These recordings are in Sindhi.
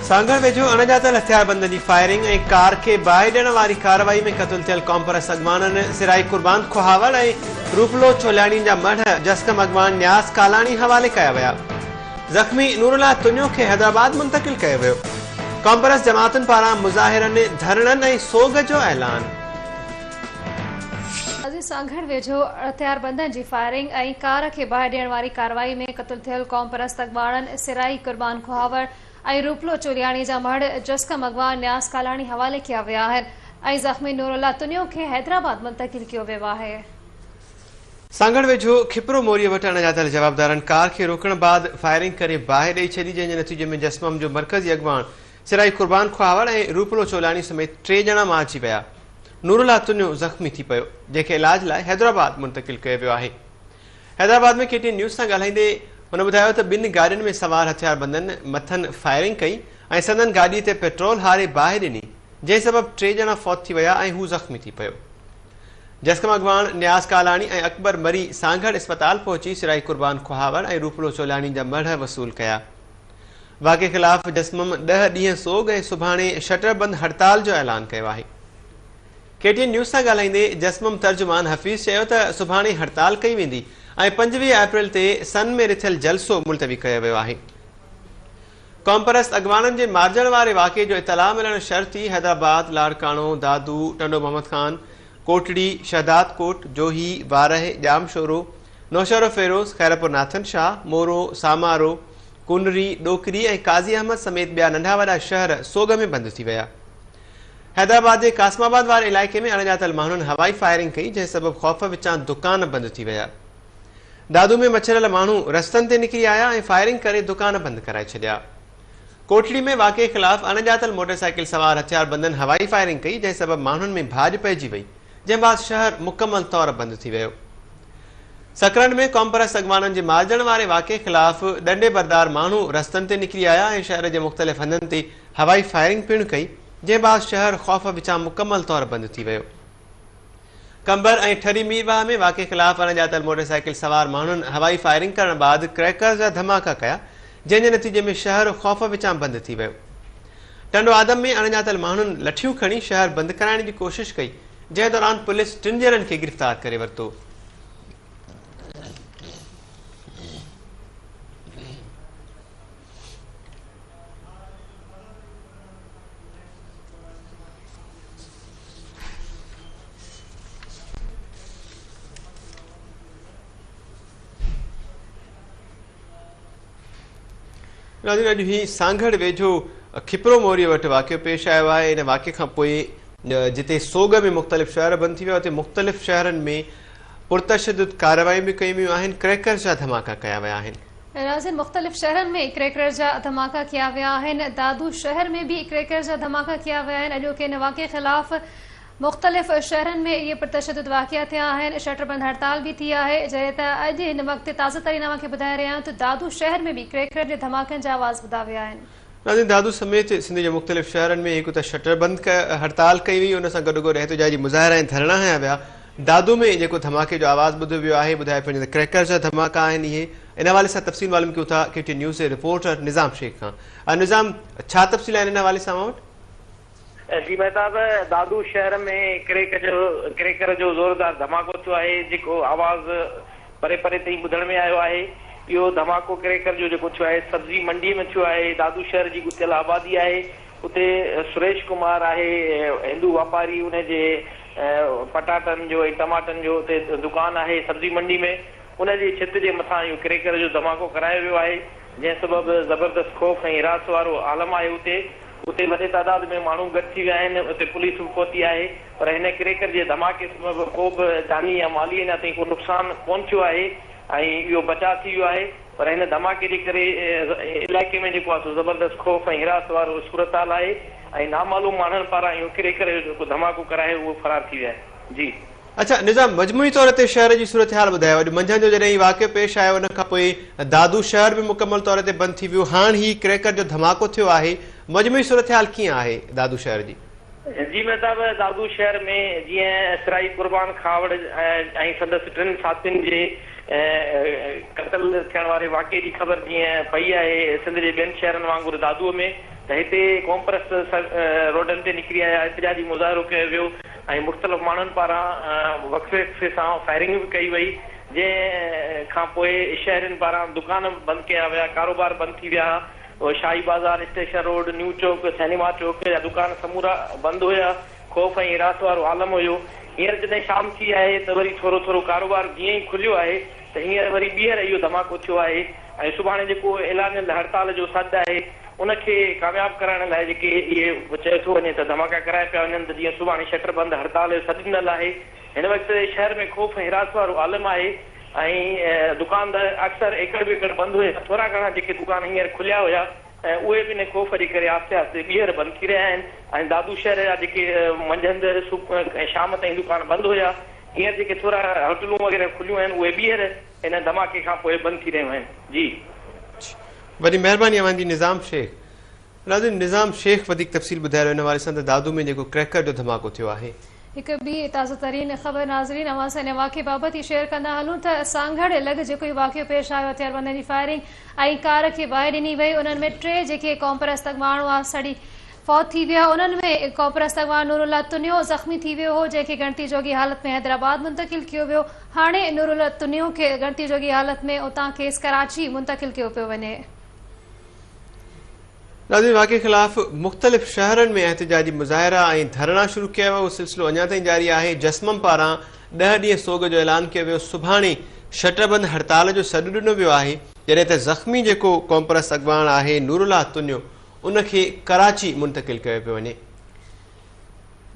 سانگهڙ ويجهو اڻڄاتل هٿياربندن جي فائرنگ ۽ ڪار کي باهه ڏيڻ واري ڪارروائي ۾ قتل ٿيل قومپرست اڳواڻن سرائي قربان کهاوڙ ۽ روپلو ڇولياڻين جا مڙهه جسقم اڳواڻ نياز ڪالاڻي حوالي ڪيا ويا زخمي نورالله تنيو کي حيدرآباد منتقل ڪيو ويو قومپرست جماعتن پاران مظاهرن ڌرڻن ۽ سوڳ جو اعلان عزيز سان گهڙ ويجهو هٿياربندن جي فائرنگ ۽ ڪار کي باهه ڏيڻ واري ڪارروائي ۾ قتل ٿيل قومپرست اڳواڻن سرائي قربان کوهاور ۽ روپلو چولياڻي جا مڙهه جسقم اڳواڻ نياز ڪالاڻي حوالي ڪيا ويا آهن ۽ زخمي نورالله تنيو کي حيدرآباد منتقل ڪيو ويو آهي. سانگهڙ ويجهو کپرو موريء وٽ اڻڄاتل جوابدارن ڪار کي روڪڻ بعد فائرنگ ڪري باهه ڏئي ڇڏي جنهن جي نتيجي ۾ جسقم جو مرڪزي اڳواڻ چرائي قربان کهاوڙ ۽ روپلو چولاڻي سميت ٽي ڄڻا مارجي ويا، نورالله تنيو زخمي ٿي پيو، جنهن کي علاج لاء حيدرآباد منتقل ڪيو ويو آهي. Hyderabad ۾ K T N news سان ڳالهائيندي هن ٻڌايو ته ٻن گاڏين ۾ سوار هٿياربندن مٿن فائرنگ ڪئي ۽ سندن گاڏي تي پيٽرول هاري باهه ڏني، جنهن سبب ٽي ڄڻا فوت ٿي ويا ۽ هو زخمي ٿي پيو. جسقم اڳواڻ نياز ڪالاڻي ۽ اڪبر مري سانگهڙ اسپتال پهچي چرائي قربان کهاوڙ ۽ روپلو چولاڻي جا مڙهه وصول ڪيا. واقعي خلاف جسمم ڏهه ڏينهن سوڳ ۽ سڀاڻي شٽر بند هڙتال جو اعلان ڪيو آهي. ڪي ٽي اين نيوز سان ڳالهائيندي جسمم ترجمان حفيظ چيو ته سڀاڻي هڙتال ڪئي ويندي ۽ پنجويهه اپريل تي سن ۾ رٿيل جلسو ملتوي ڪيو ويو آهي. قومپرست اڳواڻن جي مارجڻ واري واقعي جو اطلاع ملڻ شرط ئي حيدرآباد، لاڙڪاڻو، دادو، ٽنڊو محمد خان، ڪوٽڙي، شهدادڪوٽ، جوهي، وارهه، ڄامشورو، نوشهروفيروز، خيرپور ناٿن شاهه، مورو، سامارو، ڪنري، ڏوڪري ۽ قاضي احمد سميت ٻيا ننڍا وڏا شهر سوڳ ۾ بند ٿي ويا. حيدرآباد جي قاسم آباد واري علائقي ۾ اڻڄاتل ماڻهن هوائي فائرنگ ڪئي جنهن سبب خوف وچان دڪان بند ٿي ويا. دادو ۾ مڇريل ماڻهو رستن تي نڪري آيا ۽ فائرنگ ڪري دڪان بند ڪرائي ڇڏيا. ڪوٽڙي ۾ واقعي خلاف اڻڄاتل موٽرسائيڪل سوار هٿياربندن هوائي فائرنگ ڪئي جنهن سبب ماڻهن ۾ ڀاڄ پئجي وئي. جنهن بعد شهر مڪمل طور بند ٿي ويو. سڪرنڊ ۾ قومپرست اڳواڻن جي مارجڻ واري واقعي خلاف ڏنڊي بردار ماڻهو رستن تي نڪري آيا ۽ شهر جي مختلف هنڌن تي هوائي فائرنگ پڻ ڪئي جنهن بعد شهر خوف وچان مڪمل طور بند ٿي ويو. قمبر ۽ ٺري مير واهه ۾ واقعي خلاف اڻڄاتل موٽر سائيڪل سوار ماڻهن هوائي فائرنگ ڪرڻ بعد ڪريڪرز جا ڌماڪا ڪيا جنهن جي نتيجي ۾ شهر خوف وچان بند ٿي ويو. ٽنڊو آدم ۾ اڻڃاتل ماڻهن لٺيون کڻي شهر بند ڪرائڻ جي ڪوشش ڪئي، جنهن دوران پوليس ٽن ڄڻن کي گرفتار ڪري ورتو. ناظرين اڄ هي سانگهڙ ويجهو کپرو موري وٽ واقعو پيش آيو آهي ان واقعي کان پوء جتي سوڳ ۾ مختلف شهر بند ٿي ويا اتي مختلف شهرن ۾ پرتشدد ڪارروايون به ڪيون ويون آهن ڪريڪرز جا ڌماڪا ڪيا ويا آهن ناظرين مختلف شهرن ۾ ڪريڪرز جا ڌماڪا ڪيا ويا آهن دادو شهر ۾ به ڪريڪرز جا ڌماڪا ڪيا ويا آهن اڄوڪي ان واقعي خلاف مختلف شهرن ۾ اهي پرتشدد واقعا ٿيا آهن، شٽر بند هڙتال به ٿي آهي، جڏهن ته اڄ هن وقت تازه ترين اوهان کي ٻڌائي رهيا آهيون ته دادو شهر ۾ به ڪريڪرن جي ڌماڪن جا آواز ٻڌا ويا آهن. ناظرين دادو سميت سنڌ جي مختلف شهرن ۾ هڪ ته شٽر بند هڙتال ڪئي وئي ان سان گڏو گڏ احتجاجي مظاهرا ۽ ڌرڻا هنيا ويا، دادو ۾ جيڪو ڌماڪي جو آواز ٻڌو ويو آهي ٻڌائي پيو وڃي ته ڪريڪرز جا ڌماڪا آهن اهي ان حوالي سان تفصيل معلوم ڪيون ٿا ڪي ٽي نيوز جي رپورٽر نظام شيخ کان نظام ڇا تفصيل آهن ان حوالي سان اوهان وٽ؟ ايس ڊي مهتاب، دادو شهر ۾ ڪريڪ جو ڪريڪر جو زوردار ڌماڪو ٿيو آهي، جيڪو آواز پري پري تائين ٻڌڻ ۾ آيو آهي، اهو ڌماڪو ڪريڪر جو جيڪو ٿيو آهي سبزي منڊي ۾ ٿيو آهي، دادو شهر جي ڳتيل آبادي آهي، اتي سريش ڪمار آهي هندو واپاري ان جي پٽاٽن جو ۽ ٽماٽن جو اتي دڪان آهي سبزي منڊي ۾ ان جي ڇت جي مٿان اهو ڪريڪر جو ڌماڪو ڪرايو ويو آهي، جنهن سبب زبردست خوف ۽ حراس وارو عالم آهي اتي اتي وڏي تعداد ۾ ماڻهو گڏ ٿي ويا آهن اتي پوليس به پهتي آهي پر هن ڪريڪر جي ڌماڪي سبب ڪو به جاني يا مالي اڃا تائين ڪو نقصان ڪون ٿيو آهي ۽ اهو بچاء ٿي ويو آهي پر هن ڌماڪي جي ڪري علائقي ۾ جيڪو آهي سو زبردست خوف ۽ حراس وارو صورتحال آهي ۽ نامعلوم ماڻهن پاران اهو ڪريڪر جو جيڪو ڌماڪو ڪرايو اهو فرار ٿي ويا آهن جي. اڇا نظام مجموعي طور تي شهر جي صورتحال ٻڌايو اڄ منجهند جو جڏهن هي واقعو پيش آيو ان کانپوء دادو شهر به مڪمل طور تي بند ٿي ويو هاڻ هي ڪريڪر جو ڌماڪو ٿيو آهي مجموعي صورتحال ڪيئن آهي دادو شهر جي. جي مهتاب دادو شهر ۾ جيئن سرائي قربان کهاوڙ ۽ سندس ٽن ساٿين جي قتل ٿيڻ واري واقعي جي خبر جيئن پئي آهي سنڌ جي ٻين شهرن وانگر دادو ۾ ته هتي قومپرست روڊن تي نڪري آيا احتجاجي مظاهرو ڪيو ويو ۽ مختلف ماڻهن پاران وقفي وقفي سان فائرنگ به ڪئي وئي جنهن کان پوء شهرين پاران دڪان بند ڪيا ويا ڪاروبار بند ٿي ويا Shahi Bazaar station road new Chowk cinema Chowk جا دڪان سمورا بند هيا خوف ۽ حراس وارو عالم هيو هينئر جڏهن شام ٿي آهي ته وري ٿورو ٿورو ڪاروبار جيئن ئي کليو آهي ته هينئر وري ٻيهر اهو ڌماڪو ٿيو آهي ۽ سڀاڻي جيڪو اعلانيل هڙتال جو سڏ آهي ان کي ڪامياب ڪرائڻ لاء جيڪي اهي چيو ٿو وڃي ته ڌماڪا ڪرايا پيا وڃن ته جيئن سڀاڻي شٽر بند هڙتال جو سڏ ڏنل آهي هن وقت شهر ۾ خوف حراس وارو عالم آهي ۽ دڪاندار اڪثر ايڪڙ ٻيڪڙ بند هيا ٿورا گهڻا جيڪي دڪان هينئر کليا هيا اهي به ان خوف جي ڪري آهستي آهستي ٻيهر بند ٿي رهيا آهن ۽ دادو شهر جا جيڪي منجهند شام تائين دڪان بند هيا هينئر جيڪي ٿورا هوٽلون وغيره کليون آهن اهي ٻيهر هن ڌماڪي کان پوء بند ٿي رهيون آهن جي. جي وڏي مهرباني اوهان جي نظام شيخ. ناظرين نظام شيخ وڌيڪ تفصيل ٻڌائي رهيو ان حوالي سان ته دادو ۾ جيڪو ڪريڪر جو ڌماڪو ٿيو آهي. هڪ ٻي تازه ترين خبر ناظرين اوهان سان ان واقعي بابت ئي شيئر ڪندا هلون ته سانگهڙ لڳ جيڪو هي واقعو پيش آيو هٿياربندن جي فائرنگ ۽ ڪار کي باهه ڏني وئي انهن ۾ ٽي جيڪي قومپرست ماڻهو آهي سڙي فوت ٿي ويا، انهن ۾ ڪوپرس اغوا نور الله تنيو زخمي ٿي ويو هو، جنهن کي ڳڻتي جوڳي حالت ۾ حيدرآباد منتقل ڪيو ويو، هاڻي نور الله تنيو کي ڳڻتي جوڳي حالت ۾ اتان کيس ڪراچي منتقل ڪيو پيو وڃي. ناظرين واقعي خلاف مختلف شهرن ۾ احتجاجي مظاهرا ۽ ڌرڻا شروع ڪيا ويا اهو سلسلو اڃا تائين جاري آهي جسمم پاران ڏهه ڏينهن سوڳ جو اعلان ڪيو ويو سڀاڻي شٽر بند هڙتال جو سڏ ڏنو ويو آهي جڏهن ته زخمي جيڪو قومپرست اڳواڻ آهي نور الله تنيو ان کي ڪراچي منتقل ڪيو پيو وڃي.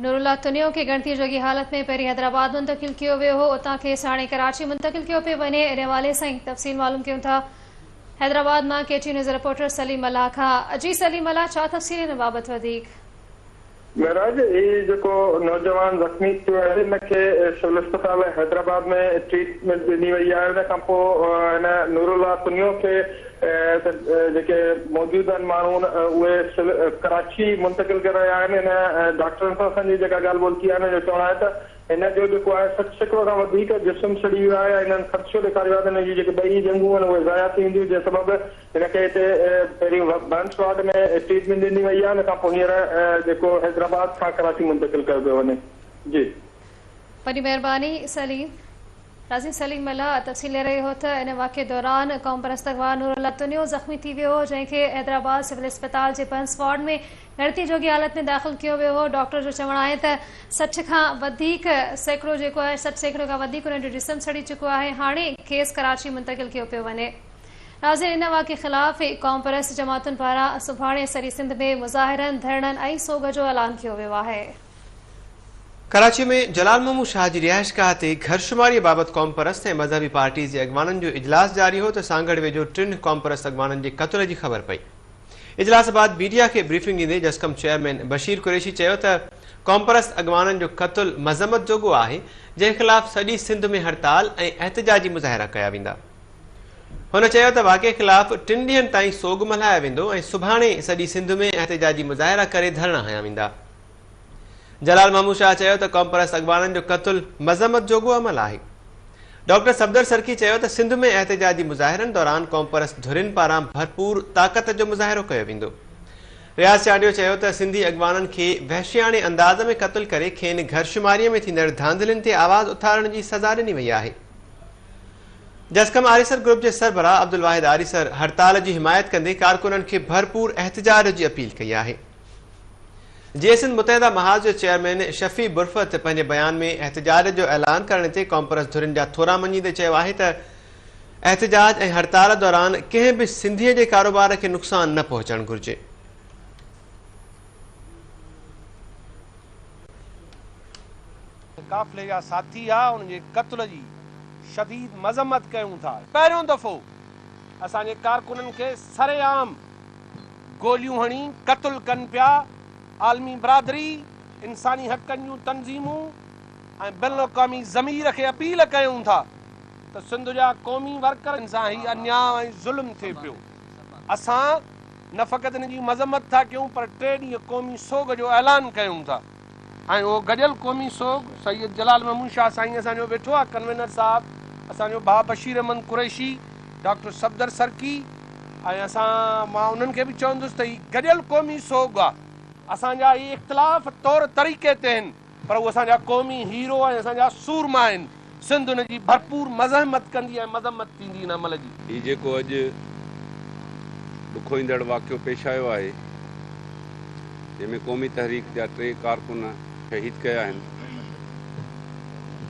نورالله تنيو کي ڳڻتيء جو اڳي حالت ۾ پهرين حيدرآباد منتقل ڪيو ويو هو، اتان کيس هاڻي ڪراچي منتقل ڪيو پيو وڃي، ان حوالي سان ئي تفصيل معلوم ڪيون ٿا حيدرآباد مان K T news reporter Saleem Mallah کان جي سليم ملاح ڇا تفصيل ان بابت وڌيڪ. معراج، هي جيڪو نوجوان زخمي ٿيو آهي هن کي سول اسپتال حيدرآباد ۾ ٽريٽمينٽ ڏني وئي آهي ان کان پوء هن نورالله پنيو کي ته جيڪي موجود آهن ماڻهو اهي سول ڪراچي منتقل ڪري رهيا آهن ان ڊاڪٽرن سان اسان جي جيڪا ڳالهه ٻولهه ٿي آهي ان جو چوڻ آهي ته هن جو جيڪو آهي سٺ سيڪڙو کان وڌيڪ جسم سڙي ويو آهي ۽ هنن خدشو ڏيکاريو آهي ته هن جون جيڪي ٻئي ڄنگهون آهن اهي ضايع ٿي وينديون جنهن سبب ان ڪري هتي پهرين برنس وارڊ ۾ ٽريٽمينٽ ڏني وئي آهي ان کانپوء هينئر جيڪو حيدرآباد کان ڪراچي منتقل ڪيو پيو وڃي جي. وڏي مهرباني سليم. ناظرين سليم ملاح تفصيل ڏئي رهيو هو ته ان واقعي دوران قوم پرست اغوا نور الله تنيو زخمي ٿي ويو هو جنهن کي حيدرآباد سول اسپتال جي برنس وارڊ ۾ ڳڻتي جوڳي حالت ۾ داخل ڪيو ويو هو ڊاڪٽر جو چوڻ آهي ته سٺ کان وڌيڪ سيڪڙو جيڪو آهي سٺ سيڪڙو کان وڌيڪ ان جو جسم سڙي چڪو آهي هاڻي کيس ڪراچي منتقل ڪيو پيو وڃي. ناظر ان واقعي خلاف قوم پرست جماعتن پاران سڀاڻي سڄي سنڌ ۾ مظاهرن، ڌرڻن ۽ سوڳ جو اعلان ڪيو ويو آهي. ڪراچي ۾ جلال محمود شاهه جي رهائشگاهه تي گهر شماري بابت قوم پرست ۽ مذهبي پارٽيز جي اڳواڻن جو اجلاس جاري هو ته سانگهڙ ويجهو ٽن قوم پرست اڳواڻن جي قتل جي خبر پئي اجلاس بعد ميڊيا کي بريفنگ ڏيندي جسقم چيئرمين بشير قريشي چيو ته قوم پرست اڳواڻن جو قتل مذمت جوڳو آهي جنهن خلاف سڄي سنڌ ۾ هڙتال ۽ احتجاجي مظاهرا ڪيا ويندا. هن چيو ته واقعي خلاف ٽن ڏينهن تائين سوڳ ملهايو ويندو ۽ سڀاڻي سڄي سنڌ ۾ احتجاجي مظاهرا ڪري ڌرڻا هنيا ويندا. جلال محمود شاهه چيو ته قومپرست اڳواڻن جو قتل مذمت جوڳو عمل آهي. ڊاڪٽر صفدر سرڪي چيو ته سنڌ ۾ احتجاجي مظاهرن دوران قومپرست ڌرين پاران ڀرپور طاقت جو مظاهرو ڪيو ويندو. رياض چانڊيو چيو ته سنڌي اڳواڻن کي وحشياڻي انداز ۾ قتل ڪري کين گهرشماري ۾ ٿيندڙ ڌانڌلين تي آواز اٿارڻ جي سزا ڏني وئي آهي. جسقم آريسر گروپ جي سربراهه عبدالواحد آريسر هڙتال جي حمايت ڪندي ڪارڪنن کي ڀرپور احتجاج جي اپيل ڪئي آهي. جيئي سنڌ متحده محاذ جو چيئرمين شفيع برفت پنهنجي بيان ۾ احتجاج جو اعلان ڪرڻ تي قومپرست ڌرين جا ٿورا مڃيندي چيو آهي ته احتجاج ۽ هڙتال دوران ڪنهن به سنڌي جي ڪاروبار کي نقصان نه پهچڻ گهرجي. قافلي جا ساٿي آ ان جي قتل جي شديد مذمت ڪيون ٿا. پهريون دفعو اسان جي ڪارڪنن کي سرعام گوليون هڻي قتل ڪن پيا، عالمي برادري، انساني حقن جون تنظيمون ۽ بين الاقوامي ضمير کي اپيل ڪيون ٿا ته سنڌ جا قومي ورڪر ان سان هي انياء ۽ ظلم ٿئي پيو اسان نه فقط ان جي مذمت ٿا ڪيون پر ٽي ڏينهن قومي سوڳ جو اعلان ڪيون ٿا. ۽ اهو گڏيل قومي سوڳ سيد جلال محمود شاهه سائين اسان جو ويٺو آهي ڪنوينر صاحب اسان جو ڀاء بشير احمد قريشي ڊاڪٽر صفدر سرڪي ۽ اسان مان انهن کي به چوندس ته هي گڏيل قومي سوڳ آهي اسان جا هي اختلاف طور طريقي تي آهن پر هو اسان جا قومي هيرو ۽ اسان جا سورما آهن. سنڌ ان جي ڀرپور مزحمت ڪندي ۽ مذمت ٿيندي ان عمل جي. هي جيڪو اڄ ڏکوئيندڙ واقعو پيش آيو آهي جنهن ۾ قومي تحريڪ جا ٽي ڪارڪن شهيد ڪيا آهن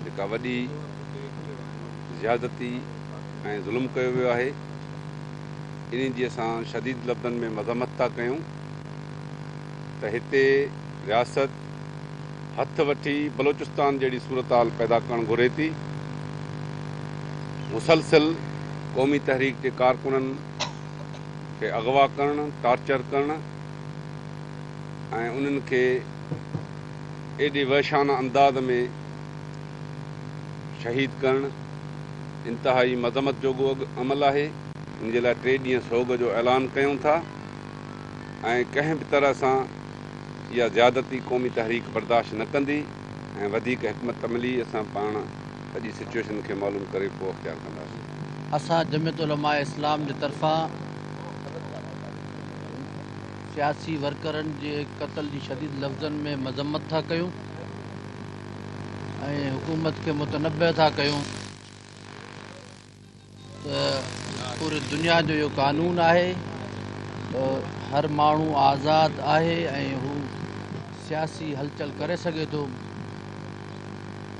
جيڪا وڏي زيادتي ۽ ظلم ڪيو ويو آهي انهي جي اسان شديد لفظن ۾ مذمت ٿا ڪيون ته هتي رياست هٿ وٺي بلوچستان جهڙي صورتحال پيدا ڪرڻ گهري ٿي، مسلسل قومي تحريڪ جي ڪارڪنن کي اغوا ڪرڻ، ٽارچر ڪرڻ ۽ انهن کي ايڏي وحشانه انداز ۾ شهيد ڪرڻ انتهائي مذمت جوڳو عمل آهي، ان جي لاء ٽي ڏينهن سوڳ جو اعلان ڪيون ٿا ۽ ڪنهن به طرح سان. اها زيادتي قومي تحريڪ برداشت نه ڪندي ۽ وڌيڪ حڪمت عملي سان پاڻ سڄي سچوئيشن کي معلوم ڪري پوء اختيار ڪنداسين. اسان جمعيت علماء اسلام جي طرفان سياسي ورڪرن جي قتل جي شديد لفظن ۾ مذمت ٿا ڪيون ۽ حڪومت کي متنبه ٿا ڪيون. ته پوري دنيا جو اهو قانون آهي ته هر ماڻهو آزاد آهي ۽ هو سياسي هلچل ڪري سگهي ٿو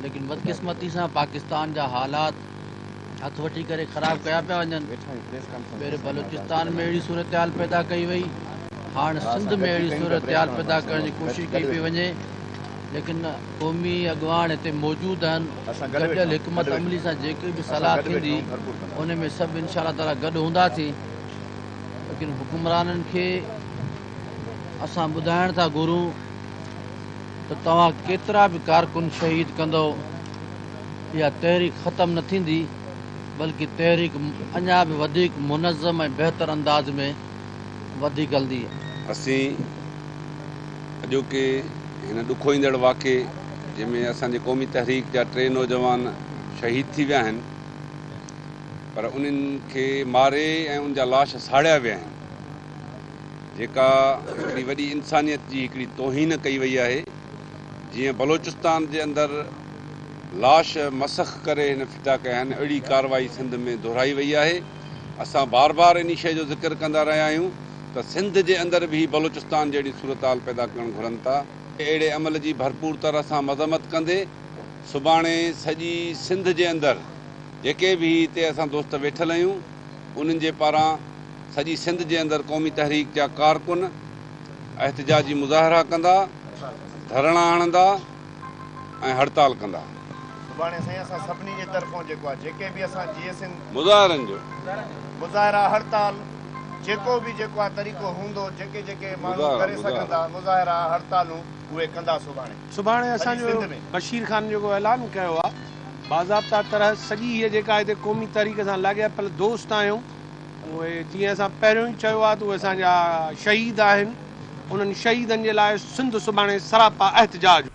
ليڪن بدقسمتي سان پاڪستان جا حالات هٿ وٺي ڪري خراب ڪيا پيا وڃن پهرين بلوچستان ۾ اهڙي صورتحال پيدا ڪئي وئي هاڻ سنڌ ۾ اهڙي صورتحال پيدا ڪرڻ جي ڪوشش ڪئي پئي وڃي ليڪن قومي اڳواڻ هتي موجود آهن، گڏيل حڪمت عملي سان جيڪي به صلاح ٿيندي ان ۾ سڀ انشاء الله تعاليٰ گڏ هونداسين، ليڪن حڪمرانن کي اسان ٻڌائڻ ٿا گهرون ته توهان ڪيترا به ڪارڪن شهيد ڪندؤ اها تحريڪ ختم نه ٿيندي بلڪه تحريڪ اڃا به وڌيڪ منظم ۽ بهتر انداز ۾ وڌيڪ هلندي. اسين اڄوڪي هن ڏکوئيندڙ واقعي جنهن ۾ اسان جي قومي تحريڪ جا ٽي نوجوان شهيد ٿي ويا آهن پر انهن کي ماري ۽ ان جا لاش ساڙيا ويا آهن جيڪا هڪڙي وڏي انسانيت جي هڪڙي توهين ڪئي وئي آهي جيئن بلوچستان جي اندر لاش مسخ ڪري هن ڦٽا ڪيا آهن اهڙي ڪارروائي سنڌ ۾ دهرائي وئي آهي. اسان بار بار انهي شيء جو ذڪر ڪندا رهيا آهيون ته سنڌ جي اندر به هي بلوچستان جهڙي صورتحال پيدا ڪرڻ گهرن ٿا. اهڙي عمل جي ڀرپور طرح سان مذمت ڪندي سڀاڻي سڄي سنڌ جي اندر جيڪي به هي هتي اسان دوست ويٺل اهيون انهن جي پاران سڄي سنڌ جي اندر قومي تحريڪ جا ڪارڪن احتجاجي مظاهرا ڪندا، ڌرڻا هڻندا. ۽ هڙتال ڪندا. مظاهرن جو. سڀاڻي اسان جو بشير خان جيڪو اعلان ڪيو آ باضابطا طرح سڄي هيء جيڪا هتي قومي تحريڪ سان لاڳياپيل دوست آهيون اهي جيئن اسان پهريون ئي چيو آ ته اهي اسان جا شهيد آهن انهن شهيدن جي لاء سنڌ سڀاڻي سراپا احتجاج